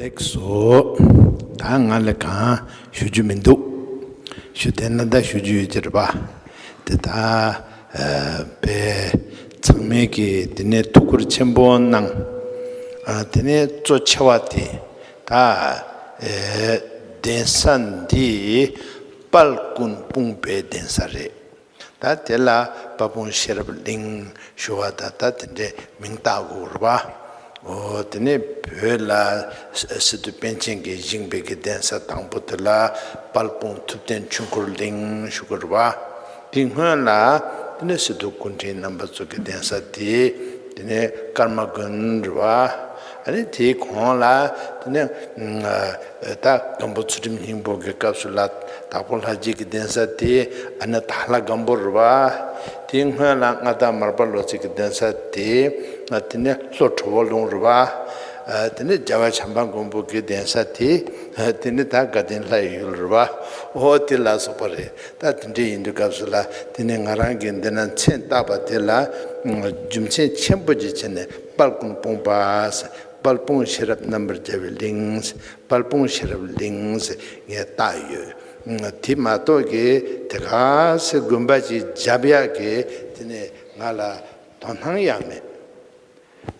ལེགས་སོ། ད་ང་ལ་གང་ཞུ་རྒྱུ་མི་འདུག། ཞུ་དེ་ན་ད་ཞུ་རྒྱུ་ཡོད་ཅེས་རེད་པ། དེ་ད་བས་ཚང་མས་ཀྱིས་དེ་ནས་ཐུགས་ཁུར་ཆེན་པོ་གནང། དེ་ནས་གཙོ་ཆེ་བ་དེ། ད་གདན་ས་འདི་དཔལ་ཀུན་སྤུངས་པའི་གདན་ས་རེད། ད་དེ་ལ་དཔའ་སྤུངས་ཤེས་རབ་གླིང་ཞུ་བ་ད་ལྟ་དེ་འདྲའི་མིང་བཏགས་དགོས་པའོ། དེ་ནས་བོད་ལ་སི་ཏུ་པཎ་ཆེན་གྱི་བཞེངས་པའི་གདན་ས་དང་པོ་དེ་ལ་དཔལ་སྤུངས་ཐུབ་བསྟན་ཆོས་འཁོར་གླིང་ཞུ་དགོས་པ། དེ་སྔོན་ལ། དེ་ནས་སི་ཏུ་ཀུན་ཕྲན་རྣམ་པ་གཙུག་གི་གདན་ས་དེ། དེ་ནས་ཀརྨ་དགོན་རེད་བ། རེད་དེ་གོང་ལ། དེ་ནས། ད་སྒམ་པོ་ཚུལ་ཁྲིམས་སྙིང་པོ་གི་སྐབས་སུ་ལ། དྭགས་པོ་ལྷ་རྗེ་གི་གདན་ས་དེ། ཨ་ནི་དྭགས་ལྷ་སྒམ་པོ་རེད་བ། དེ་སྔོན་ལ་མངའ་བདག་མར་པ་ལོ་ཚིགས་གི་གདན་ས་དེ། དེ་ནས་ལྷོ་ཁྲོ་བོ་ལུང་རེད་བ། དེ་ནས་རྒྱལ་བ་བྱམས་པ་མགོན་པོ་གི་གདན་ས་དེ། དེ་ནས་ད་དགའ་ལྡན་ལྷ་ཡི་ཡུལ་རེད་བ། འོ་དེ་ལ་སོགས་པ་རེད། ད་དེ་འདྲ་ཡིན་པའི་སྐབས་སུ་ལ་དེ་ནི་ང་རང་གིས་འདི་ན་མཚན་བཏགས་པ་དེ་ལ་རྒྱུ་མཚན་ཆེན་པོ་ཅིག་བྱས་ནས་དཔལ་ཀུན་སྤོང་པདཔལ་སྤུངས་ཤེས་རབ་རྣམ་པར་རྒྱལ་བའི་གླིངདཔལ་སྤུངས་ཤེས་རབ་གླིངངས་བཏགས་ཡོད། དེ་མ་གཏོགས་ཀྱི་དེ་ག་སེ་དགོན་པ་ཅིག་འཇབ་ཡག་གིས་དེ་ནི་ང་ལ་དོ་སྣང་ཡང་མེད།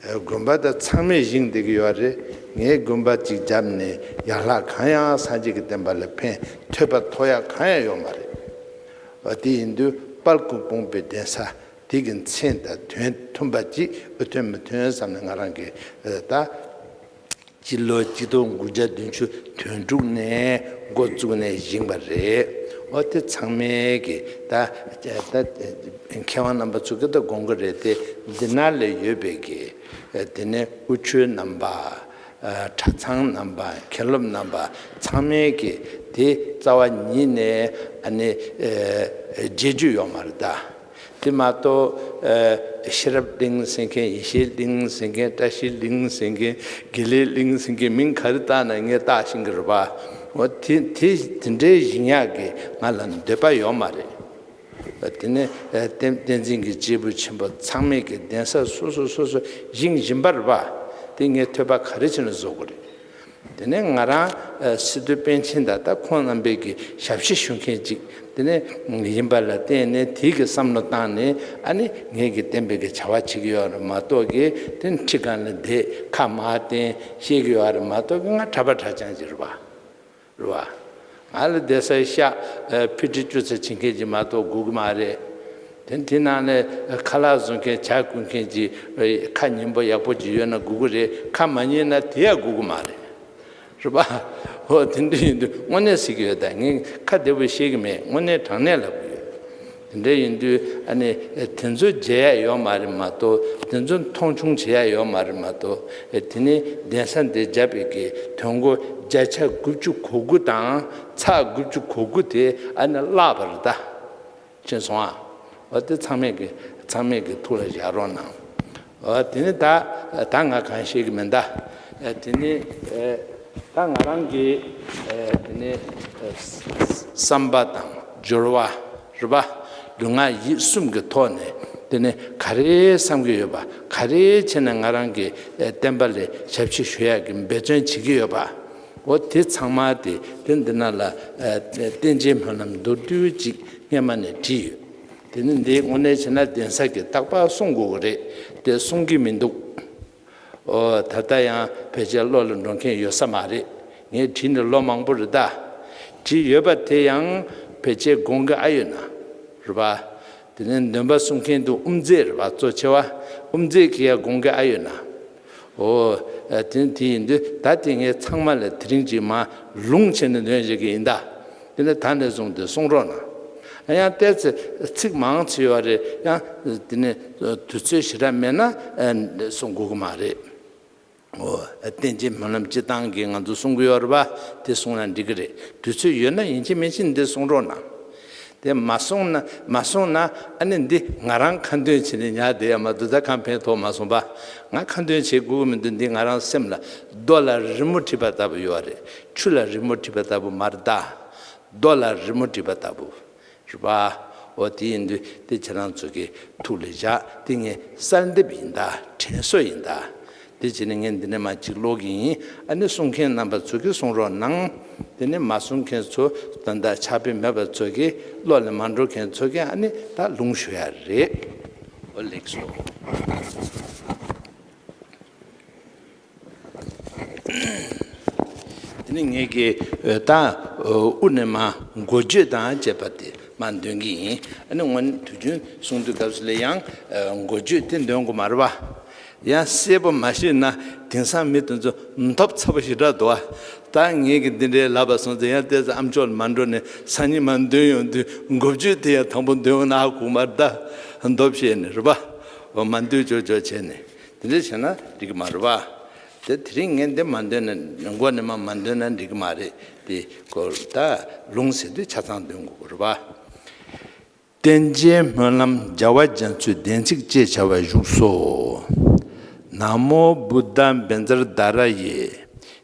དགོན་པ་དེ་ཚང་མས་བཞེངས་བསྡད་ཀྱི་ཡོད་རེད། ངས་དགོན་པ་གཅིག་བརྒྱབ་ནས་ཡར་ལྷག་གང་ཡང་སངས་རྒྱས་ཀྱི་བསྟན་པ་ལ་ཕན་ཐོད་པ་ཐོག་ཡག་གང་ཡང་ཡོད་མ་རེད། འོ་དེ་ཡིན་དུས་དཔལ་སྐུ་སྤུངས་པའི་གདན་ས་དེ་གི་མཚན་དང་དོན་མཐུན་པ་གཅིག་འཐོན་མི་འཐོན་བསམ་ནས་ང་རང་གིས་ད་སྤྱི་ལོ་སྤྱི་སྟོང་དགུ་བརྒྱ་བདུན་ཅུ་དོན་དྲུག་ནས་མགོ་བཙུགས་ནས་བཞེངས་པ་རེད། འོ་དེ་ཚང་མའི་གི་ད་མཁས་དབང་རྣམ་པ་ཚོ་གི་ད་དགོངས་ཀི་རེད་དེ་འདི་ན་ལས་ཡོད་པའི་གི་དེ་ནས་དབུ་ཆོས་རྣམ་པ། གྲྭ་ཚང་རྣམ་པ་མཁན་སློབ་རྣམ་པ་ཚང་མའི་གི་དེ་རྩ་བ་ཉིད་ནས་ཨ་ནི་བརྗེད་རྒྱུ་ཡོག་མ་རེད་ད། དེ་མ་གཏོགས། ཤེས་རབ་གླིང་ཟེར་མཁན་ཡེ་ཤེས་གླིང་ཟེར་མཁན་བཀྲ་ཤིས་གླིང་ཟེར་མཁན་དགེ་ལེགས་གླིང་ཟེར་མཁན་མིང་ག་རེ་བཏགས་ན་ངས་བཏགས་ཤིང་གི་རེད་པ། འོ་དེ་དེ་འདྲའི་བཞིན་ཡག་གི་ང་ལ་འདོད་པ་ཡོད་མ་རེད། དེ་ནས་བསྟན་འཛིན་གྱི་སྐྱེས་བུ་ཆེན་པོ་ཚང་མས་གི་གདན་ས་སོ་སོ་སོ་སོ་བཞེངས་བཞིན་པ་རེད་པ། དེ་ངས་ཐོས་པ་ག་རེ་བྱས་ན་བཟོ་དགོས་རེད། དེ་ནས་ང་རང་སི་ཏུ་པན་ཆེན་ད་ལྟ་ཁོང་རྣམ་པས་ཀྱི་ཞབས་ཕྱི་ཞུ་མཁན་ཅིག་དེ་ནས་ཡིན་པ་ལ་བརྟེན་ནས་དེའི་ཀྱི་བསམ་བློ་བཏང་ནས་ཨ་ནི་ངས་ཀྱི་བསྟན་པའི་ཀྱི་བྱ་བ་བྱེད་ཀྱི་ཡོད་རེད་མ་གཏོགས་ཀྱི་དེ་ནི་ཁྲི་ཀ་ནས་དེ་ཁ་མ་བསྟན་ཤེས་ཀྱི་ཡོད་རེད་མ་གཏོགས་ཀྱི་ང་གྲྭ་པ་གྲྭ་བྱང་ཅིག་རེད་པ་རེད་བ། ང་ལ་བདེ་གསལ་ཤགས་ཕི་དྲི་ཅུ་ཚ་བྱེད་མཁན་གྱི་མ་གཏོགས་སྒུག་གི་མ་རེད། དེ་དེ་ནང་ནས་ཁ་ལག་བཟོ་མཁན་བྱ་བཀོད་མཁན་གྱི་ཁ་ཉིན་པོ་ཡག་པོ་གྱི་ཡོད་ན་སྒུག་གི་རེད་ཁ་མ་ཉིན་ན་དེ་ཡང་སྒུག་གི་མ་རེད། རེད་པ། ཧོ་དེ་འདྲ་ཡིན་དུས་དངོས་གནས་གཟིགས་ཀྱི་ཡོད་ད་ངས་ཁ་བདེ་པོ་ཤེས་ཀྱི་མེད་དངོས་གནས་དྲང་གནས་ལབ་ཀྱི་ཡོད། དེ་འདྲ་ཡིན་དུས་ཨ་ནི་དེ་ཚོ་བརྗེ་ཡ་ཡོད་མ་རེད་མ་གཏོགས་དེ་ཚོ་མཐོང་ཆུང་བྱེད་ཡ་ཡོད་མ་རེད་མ་གཏོགས་དེ་ནི་གདན་ས་འདི་རྒྱ་བོད་ཀྱི་དོན་གོ་བརྒྱ་ཆ་དགུ་བཅུ་གོ་དགུ་དང་ཚ་དགུ་བཅུ་གོ་དགུ་དེ་ཨ་ནི་བརླག་པ་རེད་ད་ཕྱིན་སོང་ཨ་འོ་དེ་ཚང་མས་ཀྱི་ཚང་མས་ཀྱི་ཐུགས་ལ་བཞག་རོགས་གནང་དེ་ནི་ད་ད་ང་གང་ཤེས་ཀྱི་མེད་མདའ། དེ་ནི་ད་ང་རང་གི་དེ་ནི་བསམ་པ་དང་སྦྱོར་བ་རུས་པ་རྒྱུ་ངག་ཡིད་གསུམ་གྱི་ཐོག་ནས་དེ་ནི་ག་རེ་བསམ་གྱི་ཡོད་པ་ག་རེ་བྱས་ནས་ང་རང་གི་བསྟན་པ་ལས་ཞབས་ཕྱི་ཞུ་ཡག་གི་འབད་བརྩོན་བྱེད་ཀྱི་ཡོད་པ་འོ་དེ་ཚང་མ་དེ་དེ་འདི་ན་ལ་བསྟན་བྱའི་སྨོན་ལམ་མདོར་བསྡུས་གཅིག་སྔས་མ་ནས་བྲིས་ཡོད། དེ་ནི་འདིའི་དངོས་གནས་བྱས་ན་གདན་ས་གིས་རྟག་པར་གསུང་དགོས་ཀྱི་རེད་དེ་གསུང་གི་མི་འདུག་ཨོ། ད་ལྟ་ཡང་ཕལ་ཆེར་བློ་ལ་འགྲོ་མཁན་ཡོད་ས་མ་རེད། ངས་བྲིས་ནས་ལོ་མང་པོ་རེད་ད། བྲིས་ཡོད་པ་དེ་ཡང་ཕལ་ཆེར་དགོངས་ཀྱི་ཨ་ཡོད་ན་རེད་པ། དེ་ནས་འདོན་པ་གསུང་མཁན་དུ་དབུ་མཛད་རེད་པ་གཙོ་ཆེ་བ་དབུ་མཛད་གིས་ཡང་དགོངས་ཀྱི་ཨ་ཡོད་ན། ཨོ། དེ་ནི་དེ་ཡིན་ཏེ་ད་དེ་ངས་ཚང་མ་ལས་དེ་རིང་གཅིག་མ། ལུང་ཕྱེ་ནས་འདོན་བྱེད་ཀྱི་ཡིན་ད། དེ་ནི་ད་ནས་བཟུང་སྟེ་གསུང་རོགས་གནང། ཡང་བལྟས་ཚེ་ཚིག་མང་ཆེ་བ་རེད་ཡང། དེ་ནི་དུས་ཚོད་ཞེ་དྲག་མེད་ན། གསུང་དགོས་ཀྱི་མ་རེད། ཨོ། བསྟན་བྱའི་སྨོན་ལམ་སྤྱི་བཏང་གིས་ང་ཚོ་གསུང་གི་ཡོད་རེད་པ། དེ་གསུང་ན་འགྲིག་གི་རེད། དུས་ཚོད་ཡོད་ན་ཡིན་གཅིག་མིན་གཅིག་འདི་གསུང་རོགས་གནང། དེ་མ་སོང་ན་མ་སོང་ན་ཨ་ནི་འདི་ང་རང་ཁ་འདོན་བྱེད་ནས་ཉལ་བསྡད་ཡ་མ་འདུག་ད་ཁ་འཕེན་ཐོག་མ་སོང་པ་ང་ཁ་འདོན་བྱེད་དགོས་ཀྱི་མི་འདུག་འདི་ང་རང་སེམས་ལ་རྡོ་ལ་རི་མོ་བྲིས་པ་ལྟ་བུ་ཡོད་རེད་ཆུ་ལ་རི་མོ་བྲིས་པ་ལྟ་བུ་མ་རེད་ད། རྡོ་ལ་རི་མོ་བྲིས་པ་ལྟ་བུ། རེད་པ། འོ་དེ་ཡིན་དུས་དེ་ཁྱེད་རང་ཚོ་གིས་ཐུགས་ལ་བཞག་དེ་ངའི་གསར་འདེབས་ཡིན་ད་དྲན་གསོ་ཡིན་ད། དེ་བྱས་ནས་ངས་འདི་ནས་མ་འཇིགས་ཀློག་གི་ཡིན་ཨ་ནི་གསུང་མཁན་རྣམ་པ་ཚོ་གིས་གསུང་རོགས་གནང། དེ་ནས་མ་གསུང་མཁན་ཚོ་དང་དང་ཆ་དཔེ་མེད་པ་ཚོ་གིས་ཀློག་ལེན་མ་འགྲོ་མཁན་ཚོ་གིས་ཨ་ནི་ད་ལུང་ཞུ་ཡ་རེད། འོ་ལེགས་སོ། དེ་ནས་ངས་ཀྱི་ད་དབུ་ནས་མ་མགོ་བརྗོད་དང་བཅས་པ་དེ་མ་འདོན་གི་ཡིན་ཨ་ནི་སྔོན་དུས་རྒྱུན་གསུང་དུས་སྐབས་སུ་ལས་ཡང་མགོ་བརྗོད་དེ་འདོན་དགོས་མ་རེད་བ། ཡང་བཤད་པ་མ་ཤེས་ན་དེང་སང་མི་དེ་ཚོ་འཐོབ་ཚ་པོ་ཞིག་གྲགས་འདུག་ཨ། ད་ངེད་ཀྱིས་འདི་འདྲའི་ལབ་པ་སོང་ཚེ་ཡང་བལྟས་ཚེ་ཨ་མཆོག་ལ་མ་འགྲོ་ནས་སང་ཉིན་མ་འདོན་ཡོང་དུས་མགོ་བརྗོད་དེ་ཡང་དང་པོ་འདོན་ཡོང་ན་ཨ་ཁུག་མར་བརྡ་རྡོ་བཤད་ནས་རེད་པ། འོ་མ་འདོད་ཅོག་ཅོག་བྱས་ནས་དེ་འདྲ་བྱས་ན་འགྲིག་གི་མ་རེད་པ། དེ་དེ་རིང་ངས་འདི་མ་འདོན་ན་མགོ་ནས་མ་མ་འདོན་ན་འགྲིག་གི་མ་རེད་དེ། ད་ལུང་ཟེར་དུས་ཆ་ཚང་འདོན་དགོས་པ་རེད་པ། རྟེན་བྱའི་སྨོན་ལམ་བརྒྱ་བ་རྒྱ་མཚོའི་བདེན་ཚིག་ཅེས་བྱ་བ་བཞུགས་སོ། ན་མོ་བུ་ད་འབན་ཛར་ད་ར་ཡེ།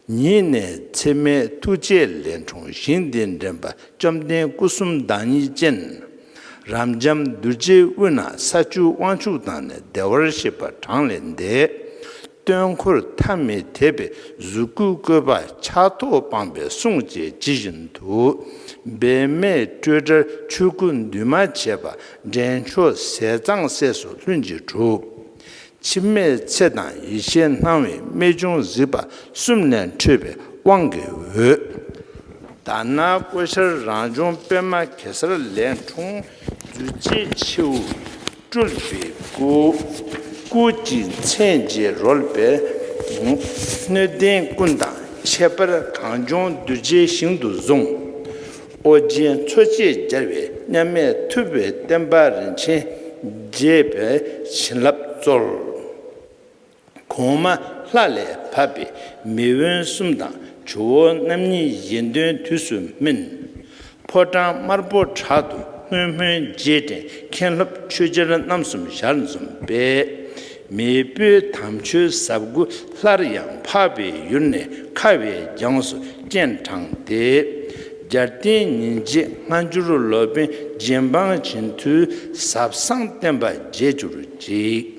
ཉིད་ནས་ཚད་མའི་ཐུགས་རྗེ་ལས་འཁྲུངས་ཞིང་འདི་འདྲེན་པ་བཅོམ་ལྡན་སྐུ་གསུམ་བདག་ཉིད་ཅན། རབ་འབྱམས་གདུལ་བྱའི་དབུས་ན་ས་བཅུའི་དབང་ཕྱུག་དང་ནི་བདེ་བར་གཤེགས་པ་གྲངས་ལས་འདས། སྟོན་འཁོར་ཐ་མི་དད་པའི་གཟུགས་སྐུའི་བཀོད་པ་ཆགས་ཐོགས་སྤངས་པའི་གསུང་བཅས་ཇི་བཞིན་དུ། འབད་མེད་སྤྲོས་བྲལ་ཆོས་སྐུ་འདུས་མ་བྱས་པ་འདྲེན་མཆོག་ཟས་གཙང་སྲས་སུ་ལྷུན་གྱིས་གྲུབ། འཆི་མེད་ཚེ་དང་ཡེ་ཤེས་སྣང་བའི་རྨད་བྱུང་གཟིགས་པ་གསུམ་ལས་འཕྲོས་པའི་དབང་གི་འོད། དར་ནག་ཀོ་ཤར་རང་བྱུང་པད་མ་གེ་སར་ལས་འཁྲུངས་བརྫུས་བྱའི་མཆེའུ། སྤྲུལ་པའི་སྐུ། སྐུ་གཅིག་མཚན་བརྒྱད་རོལ་པའི་སྐུ། སྣོད་ལྡན་ཀུན་དང་ཁྱད་པར་གངས་ལྗོངས་གདུལ་བྱའི་ཞིང་དུ་བཟུང། ཨོ་རྒྱན་མཚོ་སྐྱེས་རྒྱལ་བའི་མཉམ་མེད་ཐུབ་པའི་བསྟན་པ་རིན་ཆེན་རྒྱས་པའི་བྱིན་རླབས་སྩོལ། གོང་མ་ལྷ་ལས་བབས་པའི་མི་དབོན་གསུམ་དང་ཇོ་བོ་རྣམ་གཉིས་གཞན་དོན་དུས་སུ་སྨིན། ཕོ་བྲང་དམར་པོ་བྲག་ཏུ་སྔོན་སྨོན་རྗེས་དྲན་མཁན་སློབ་ཆོས་རྗེར་རྣམ་གསུམ་ཞར་འཛོམས་པས། མེས་སྤོས་དམ་ཆོས་ཟབ་དགུ་སླར་ཡང་འཕགས་པའི་ཡུལ་ནས་ཁ་བའི་རྒྱངས་སུ་སྤྱན་དྲངས་ཏེ། རྒྱལ་བསྟན་ཉིན་བྱེད་སྔ་འགྱུར་ལོ་པཎ་རྗེ་འབངས་བྱིན་མཐུའི་ཟབ་གསང་བསྟན་པ་རྒྱས་གྱུར་ཅིག།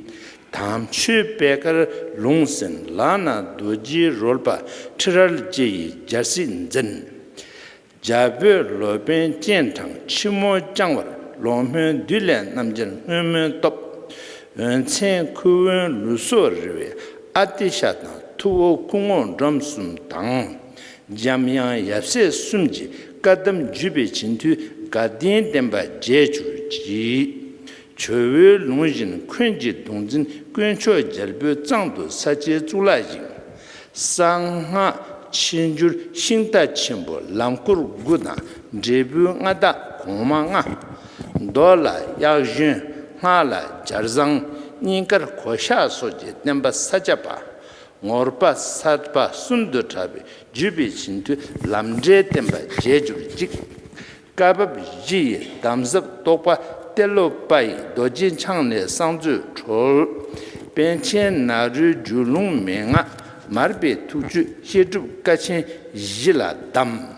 དམ་ཆོས་པད་དཀར་ལུང་ཟིན་ལག་ན་རྡོ་རྗེའི་རོལ་པ་ཁྲི་རལ་ལྕེ་ཡི་འཇའ་སྲིད་འཛིན། རྒྱ་བོད་ལོ་པཎ་སྤྱན་དྲངས་ཕྱི་མོ་བརྐྱང་བར་ལོག་སྨོན་བདུད་ལས་རྣམ་རྒྱལ་སྔོན་མོའི་སྟོབས། འོད་མཚན་ཁུ་དབོན་ལུས་སྲོག་རི་བའི་ཨ་ཏི་ཤ་དང་ཐུ་བོ་སྐུ་ངོ་འབྲོམ་གསུམ་དང། འཇམ་དབྱངས་ཡབ་སྲས་གསུམ་གྱི་བཀའ་གདམས་བརྒྱུད་པའི་བྱིན་མཐུས་དགའ་ལྡན་བསྟན་པ་བརྒྱད་ཅུར་བགྱིས། ཇོ་བོའི་ལུང་བཞིན་འཁོན་གྱི་གདུང་འཛིན་དཀོན་མཆོག་རྒྱལ་པོའི་གཙང་དུ་ས་ཆའི་གཙུག་ལག་བཞེངས། གསང་སྔགས་ཕྱི་འགྱུར་ཤིང་རྟ་ཆེན་པོ་ལམ་སྐོར་དགུ་དང་འབྲས་བུའི་མངའ་བདག་གོང་མ་ལྔ། མདོ་ལ་གཡག་གཞོན་སྔགས་ལ་སྦྱར་བཟང་སྙིང་དཀར་གོ་ཤ་སོགས་ཀྱི་བསྟན་པ་ས་སྐྱ་པ། ངོར་པ་གསར་པ་གསུམ་དུ་གྲགས་པའི་བརྒྱུད་པའི་བྱིན་མཐུ་ལམ་འབྲས་བསྟན་པ་རྒྱས་གྱུར་ཅིག། བཀའ་བབས་བཞི་ཡི་གདམས་ཟབ་རྟོགས་པ་གཏེར་ལོ་པ་ཡི་རྡོ་རྗེ་འཆང་ལས་གསང་མཛོད་གྲོལ། དཔལ་ཆེན་ནཱ་རོའི་རྒྱུད་ལུང་མན་ངག་མར་པའི་ཐུགས་བཅུད་བཤད་སྒྲུབ་བཀའ་ཆེན་བཞི་ལ་གདམས།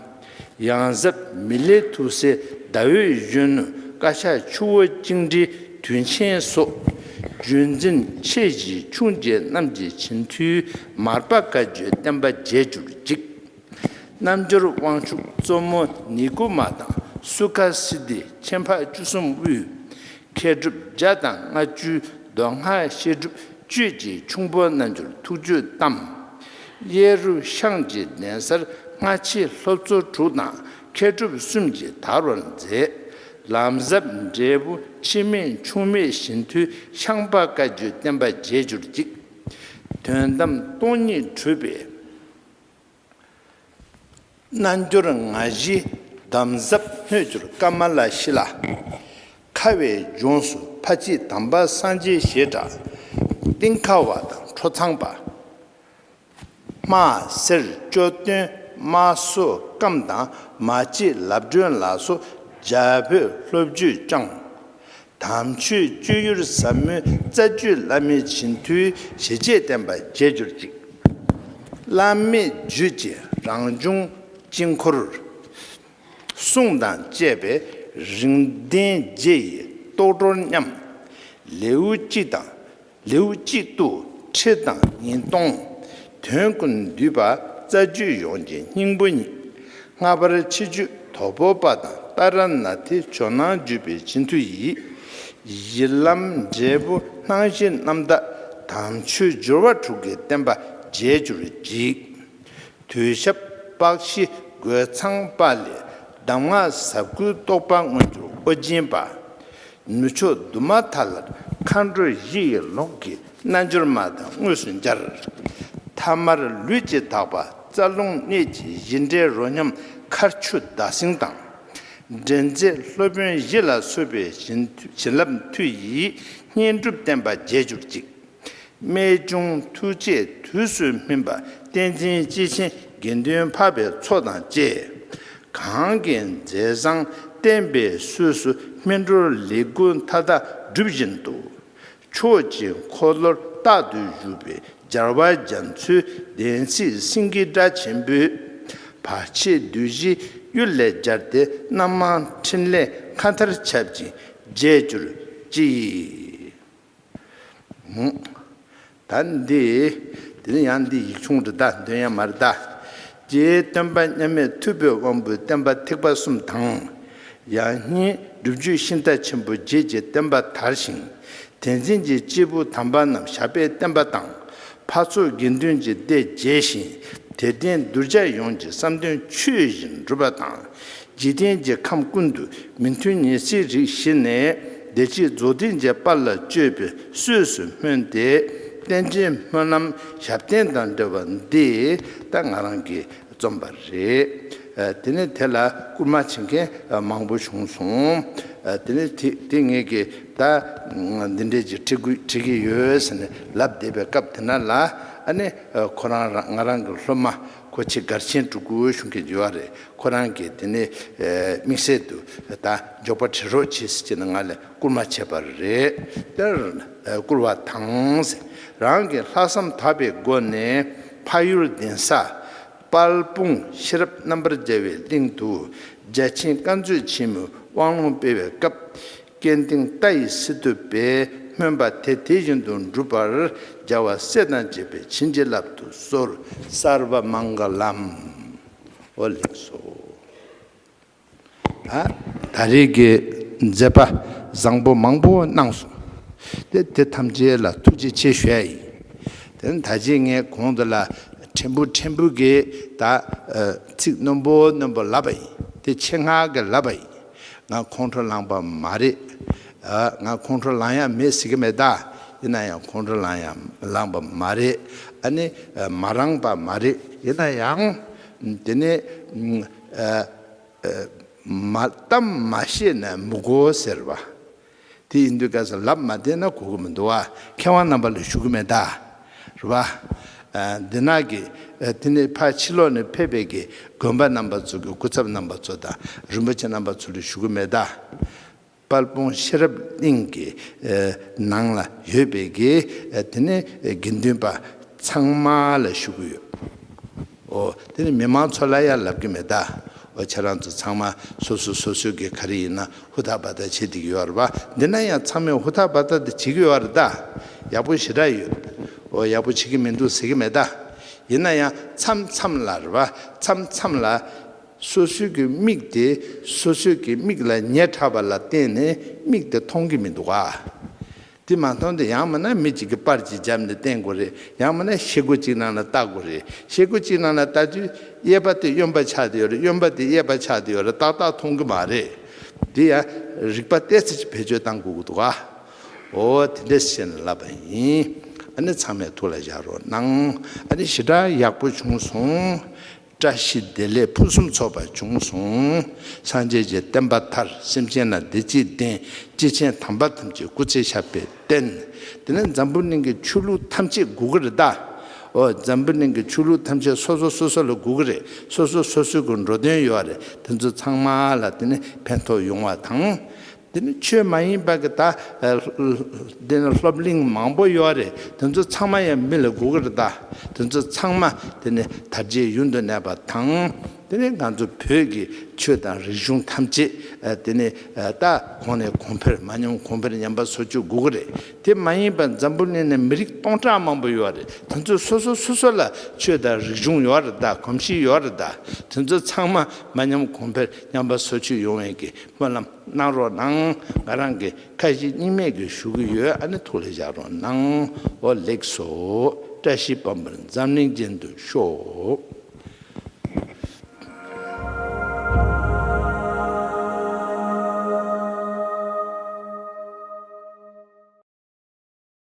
ཡང་ཟབ་མི་ལའི་ཐུགས་སྲས་ཟླ་འོད་གཞོན་ནུ་བཀའ་ཤག་ཆུ་བོ་གཅིག་འདྲིལ་དུས་མཆན་སོགས། བརྒྱུད་འཛིན་མཆེད་བཞིའི་ཆུང་རྒྱལ་རྣམས་ཀྱི་བྱིན་མཐུས་མར་པ་བཀའ་བརྒྱུད་བསྟན་པ་རྒྱས་གྱུར་ཅིག། རྣམ་འབྱོར་དབང་ཕྱུག་གཙོ་མོ་ནི་སྐུ་མ་དང་སུ་ཁ་སིདྡྷི་ཆེན་འཕགས་བཅུ་གསུམ་དབུས། མཁས་གྲུབ་བརྒྱ་དང་ལྔ་བཅུའི་མདོ་སྔགས་བཤད་སྒྲུབ་གཅོད་ཀྱི་ཁྱུང་པོ་རྣལ་འབྱོར་ཐུགས་བཅུད་གཏམས། གཡས་རུ་ཤངས་ཀྱི་གདན་སར་སྔ་ཕྱི་ལྷོ་མཚོ་དྲུག་དང་མཁས་གྲུབ་གསུམ་གྱིས་དར་བར་མཛད། ལམ་ཟབ་འབྲས་བུ་འཆི་མེད་འཆུག་མེད་བཞི་མཐུའི་ཤངས་པ་བཀའ་བརྒྱུད་བསྟན་པ་རྒྱས་གྱུར་ཅིག། དོན་དམ་སྟོང་ཉིད་གྲུབ་པའི། རྣལ་འབྱོར་ང་བཞི་འདམ་བཟབ་སྣོད་གྱུར་ཀ་མ་ལ་ཤི་ལ། ཁ་བའི་ལྗོངས་སུ་ཕ་གཅིག་དམ་པ་སངས་རྒྱས་ཞེས་གྲགས། སྟེང་ཁ་བ་དང་ཁྲོ་ཚངས་པདྨ་གསེར་ལྕོག་སྟོན་དམག་བསོད་སྐམ་དང་མ་གཅིག་ལབ་སྒྲོན་ལ་སོགས་རྒྱ་བོད་ལྷོ་བརྒྱུད་བསྐྱངས། དམ་ཆོས་སྤྱོད་ཡུལ་ཟབ་མོའི་རྩ་རྒྱུད་བླ་མའི་བྱིན་མཐུའི་ཞལ་ལྕེས་བསྟན་པ་རྒྱས་གྱུར་ཅིག། བླ་མེད་རྒྱུད་ཀྱི་རང་བྱུང་དཀྱིལ་འཁོར། གསུང་དང་བཅས་པའི་རིགས་ལྡན་རྗེ་ཡི་རྟོགས་གྲོལ་མཉམ། ལེའུ་གཅིག་དང། ལེའུ་གཅིག་ཏུ་ཁྲི་དང་ཉིས་སྟོང། དོན་ཀུན་འདུས་པ་རྩ་རྒྱུད་ཡོངས་ཀྱི་སྙིང་པོ་ཉིད། ལྔ་པར་ཕྱི་རྒྱུད་དོ་ཕོ་པ་དང་ཏཱ་ར་ནཱ་ཐའི་ཇོ་ནང་བརྒྱུད་པའི་སྤྱི་མཐུ་ཡིས། ཡི་ལམ་འབྲས་བུ་སྣང་བཞི་རྣམ་དག་དམ་ཆོས་སྦྱོར་བ་དྲུག་གི་བསྟན་པ་རྒྱས་གྱུར་བགྱིས། དུས་ཞབས་པགས་བཞི་རྒོད་ཚང་པ་ལས་གདམས་ངག་ཟབ་དགུའི་རྟོགས་པ་མངོན་གྱུར་ཨོ་རྒྱན་པདྨ་ནུ་ཕྱོགས་དུ་མ་དག་ལ་མཁའ་འགྲོའི་བཞི་ཡི་ལོགས་ཀྱི་རྣལ་འབྱོར་མ་དང་དངོས་སུ་སྦྱར། ཐ་མར་ལུས་ཀྱི་དག་པ་རྩ་རླུང་གནད་ཀྱི་བཞི་འདྲེས་རོ་མཉམ་མཁར་ཆུ་ཟླ་གསེང་དང། འདྲེན་མཛད་སློབ་དཔོན་བཞི་ལ་གསོལ་བའི་བྱིན་རླབས་མཐུ་ཡིས་བསྙེན་སྒྲུབ་བསྟན་པ་རྒྱས་གྱུར་ཅིག། རྨད་བྱུང་ཐུགས་རྗེ་དུས་སུ་སྨིན་པ་བསྟན་འཛིན་སྐྱེས་ཆེན་དགེ་འདུན་འཕགས་པའི་ཚོགས་དང་བཅས། གང་གི་མཛད་བཟང་བསྟན་པའི་གསོས་སུ་སྨིན་གྲོལ་ལེགས་དགུ་མཐའ་དག་སྒྲུབ་བཞིན་དུ། ཆོས་ཀྱི་འཁོར་ལོར་རྟག་ཏུ་བཞུགས་པའི་སྦྱར་བ་རྒྱ་མཚོའི་གདན་ཚིག་སེང་གེ་སྒྲ་ཆེན་པོས། བར་ཆད་བདུད་བཞི་གཡུལ་ལས་སྦྱར་ཏེ་རྣམ་མང་ཕྲིན་ལས་མཁའ་མཐར་ཁྱབ་ཅིང་རྒྱས་གྱུར་ཅིག། ད་འདི། དེ་ནི་ཡང་འདི་ཡིག་ཆུང་རི་དྭགས་འདོན་ཡང་མ་རི་དྭགས། ཀྱི་སྟོན་པ་མཉམ་མེད་མཐུ་བོས་དབང་པོའི་བསྟན་པ་ཐེག་པ་གསུམ་དང། ཡང་སྙིང་སྒྲུབ་བརྗོད་ཤིང་རྟ་ཆེན་པོ་བརྒྱད་ཀྱི་བསྟན་པ་དར་ཞིང། དེ་འཛིན་གྱི་སྐྱེས་བུ་དམ་པ་རྣམས་ཞབས་པད་བརྟན་པ་དང། ཕར་ཚུར་དགེ་འདུན་གྱི་སྡེ་རྒྱས་ཤིང་དད་ལྡན་གདུལ་བྱ་ཡོངས་ཀྱི་བསམ་དོན་ཆོས་བཞིན་འགྲུབ་པ་དང། འཇིག་རྟེན་གྱི་ཁམས་ཀུན་ཏུ་མི་མཐུན་ཉེས་བྱས་རིགས་ཞི་ནས་བདེ་སྐྱིད་རྫོགས་ལྡན་འཇལ་དཔའ་ལ་སྤྱོད་པའི་གསོས་སུ་སྨོན་ཏེ། རྟེན་ཅིང་སྨོན་ལམ་ཞབས་བརྟན་དང་འབྲེལ་བ་འདི་ལྟར་ང་རང་གིས་རྩོམ་པ་རེད། དེ་ནས་དེ་ལ་སྐུལ་མ་བྱེད་མཁན་མང་པོ་བྱུང་སོང། དེ་ནས་དེ་ངེད་ཀྱིས་ད་འདི་འདྲས་ཀྱི་ཁྲིད་བྲིས་ཀྱི་ཡོད་ཟེར་ནས་ལབ་བསྡད་པའི་སྐབས་དེ་ན་ལ་ཨ་ནི་ཁོ་རང་ང་རང་གི་སློབ་མ་ཁོ་ཆེད་མགར་ཆེན་འབྲུག་ཁུལ་གཞུང་གི་འཇུ་བ་རེད་ཁོ་རང་གིས་དེ་ནི་དམིགས་བསལ་དུ་ད་འཇོག་པ་བྲི་རོགས་བྱེད་ཟེར་གྱི་ན་ང་ལས་བསྐུར་མ་བྱས་པར་རེད་དེར་བསྐུར་བ་དང། རང་གི་ལྷག་བསམ་དག་པའི་སྒོ་ནས་ཕ་ཡུལ་གདན་ས་དཔལ་སྤུངས་ཤེས་རབ་རྣམ་པར་རྒྱལ་བའི་གླིང་དུ་རྒྱལ་ཆེན་བཀའ་མཛོད་ཆེན་མོའི་དབང་ལུང་སྤེལ་བའི་སྐབས་སྐལ་ལྡན་རྟ་ཡི་སི་ཏུ་པས་སྨོན་པ་དེ་དེ་བཞིན་དུ་འགྲུབ་པར་རྒྱལ་བ་སྲས་དང་བཅས་པས་བྱིན་གྱིས་བརླབ་ཏུ་གསོལ། སརྦ་མང་ག་ལམ། ཨོ་ལེགས་སོ། ད་ད་རེས་ཀྱི་མཛད་པ་བཟང་པོ་མང་པོ་གནང་སོང། དེ་དེ་ཐམས་ཅད་ལ་ཐུགས་རྗེ་ཆེ་ཞུས་ཡིན། དེ་ནི་ད་ཆའི་ངས་གོང་དུ་ལ་ཕྲན་བུ་ཕྲན་བུ་གིས་ད་ཚིག་རྣོན་པོ་རྣོན་པོ་ལབ་པ་ཡིན། དེ་ཆེད་མངགས་ཀྱིས་ལབ་པ་ཡིན། ང་ཁོང་ཁྲོ་ལངས་པ་མ་རེད། ང་ཁོང་ཁྲོ་ལངས་ཡ་མེད་ཟེར་གི་མེད་ད། ཡིན་ན་ཡང་ཁོང་ཁྲོ་ལངས་ཡ་ལངས་པ་མ་རེད། ཨ་ནི་མ་རངས་པ་མ་རེད། ཡིན་ན་ཡང། དེ་ནི། མ་གཏམ་མ་བཤད་ན་མི་གོ་ཟེར་བ། དེ་ཡིན་དུས་སྐལ་བཟང་ལབ་མ་བསྡད་ན་གོ་གི་མི་འདུག་ཨ་མཁས་དབང་རྣམ་པ་ལ་ཞུ་གི་མེད་ད། རེད་པ། འདི་ནག་གི། དེ་ནི་ཕ་ཕྱི་ལོག་ནས་ཕེབས་པའི་གི་དགོན་པ་རྣམ་པ་ཚོ་གི་སྐུ་ཚབ་རྣམ་པ་ཚོ་དང་རིན་པོ་ཆེ་རྣམ་པ་ཚོ་ལ་ཞུ་གི་མེད་ད། དཔལ་སྤུངས་ཤེས་རབ་གླིང་གི་ནང་ལ་ཡོད་པའི་གི་དེ་ནི་དགེ་འདུན་པ་ཚང་མ་ལ་ཞུ་གི་ཡོད། ཨོ། དེ་ནི་མི་མང་ཚོ་ལ་ཡང་ལབ་ཀྱི་མེད་ད། ཨོ་ཁྱེད་རང་ཚོ་ཚང་མ་སོ་སོ་སོ་སོའི་གི་ག་རེ་ཡིན་ན་ཧུར་ཐག་བ་ཐག་བྱེད་དེ་གི་ཡོད་རེད་པ། འདི་ན་ཡང་ཚང་མས་ཧུར་ཐག་བ་ཐག་དེ་བྱེད་གི་ཡོད་རེད་ད། ཡག་པོ་ཞེ་དྲག་ཡོད། ཨོ་ཡག་པོ་བྱེད་གི་མི་འདུག་ཟེར་གི་མེད་ད། ཡིན་ན་ཡང་མཚམས་མཚམས་ལ་རེད་པ་མཚམས་མཚམས་ལ། སོ་སོའི་གི་མིག་དེ་སོ་སོའི་གི་མིག་ལ་ཉེ་དྲག་པ་ལ་བརྟེན་ནས་མིག་དེ་མཐོང་གི་མི་འདུག་ག། དེ་མ་མཐོང་དུས་ཡང་མིན་ན་མི་གཅིག་གིས་པར་གཅིག་བརྒྱབ་ནས་བསྟན་དགོས་རེད་ཡང་མིན་ན་ཤེལ་སྒོ་གཅིག་ནང་ལ་བཏགས་དགོས་རེད་ཤེལ་སྒོ་གཅིག་ནང་ལ་བཏགས་དུས་གཡས་པ་དེ་གཡོན་པར་ཆགས་ཏེ་ཡོད་རེད་གཡོན་པ་དེ་གཡས་པར་ཆགས་ཏེ་ཡོད་རེད་ཏག་ཏག་མཐོང་གི་མ་རེད། དེ་ཡང་རིག་པ་བལྟས་ཚེ་ཅིག་བེད་སྤྱོད་བཏང་དགོས་ཀྱི་འདུག་ག། འོ་དེ་འདྲས་བཤད་ནས་ལབ་པ་ཡིན། ཨ་ནི་ཚང་མས་ཐུགས་ལ་བཞག་རོགས་གནང། ཨ་ནི་ཞེ་དྲག་ཡག་པོ་བྱུང་སོང། བཀྲ་ཤིས་བདེ་ལེགས་ཕུན་སུམ་ཚོགས་པ་བྱུང་གསུང། སངས་རྒྱས་ཀྱི་བསྟན་པ་མཐར་སེམས་ཅན་ལ་བདེ་སྐྱིད་ལྡན། སྐྱེས་ཆེན་དམ་པ་ཐམས་ཅད་སྐུ་ཚེ་ཞབས་པད་བརྟན། དེ་ནས་འཛམ་བུ་གླིང་གི་ཆོས་ལུགས་ཐམས་ཅད་དགུ་ག་རེ་ད། འོ་འཛམ་བུ་གླིང་གི་ཆོས་ལུགས་ཐམས་ཅད་སོ་སོ་སོ་སོ་ལ་དགུ་ག་རེ་སོ་སོ་སོ་སོའི་གི་འགྲོ་དོན་ཡོད་རེད་དེ་ཚོ་ཚང་མ་ལ་དེ་ནས་ཕན་ཐོགས་ཡོང་བ་དང། འདི་ནི་ཆོས་མ་ཡིན་པ་གི་ད། འདི་ནི་སློབ་གླིང་མང་པོ་ཡོད་རེད་དེ་ཚོ་ཚང་མ་ཡང་མི་ལ་སྒུག་གི་རེད་ད། དེ་ཚོ་ཚང་མ་དེ་ནི་དར་རྒྱས་ཡུན་དུ་གནས་པ་དང། དེ་ནི་ང་ཚོ་བོད་ཀྱི་ཆོས་དང་རིག་གཞུང་ཐམས་ཅད་དེ་ནི་ད་གོང་ནས་གོང་འཕེལ་མ་མྱོང་གོང་འཕེལ་ཉམས་པ་བཟོ་བཅུག་སྒུག་གི་རེད་དེ་མ་ཡིན་པ་འཛམ་བུ་གླིང་ནས་མི་རིགས་སྟོང་ཕྲག་མང་པོ་ཡོད་རེད་དེ་ཚོ་སོ་སོ་སོ་སོ་ལ་ཆོས་དང་རིག་གཞུང་ཡོད་རེད་ད་གོམས་གཤིས་ཡོད་རེད་ད་དེ་ཚོ་ཚང་མ་མ་མྱོང་གོང་འཕེལ་ཉམས་པ་བཟོ་བཅུག་ཡོང་བའི་གི་སྨོན་ལམ་གནང་རོགས་གནང། ང་རང་གི་ཁ་ཡི་སྙིང་མེད་ཀྱི་ཞུ་གི་ཡོད་ཨ་ནི་ཐུགས་ལ་བཞག་རོགས་གནང། ཨོ་ལེགས་སོ། བཀྲ་ཤིས་བམ་པར་འཛམ་གླིང་ཅན་དུ་ཤོག།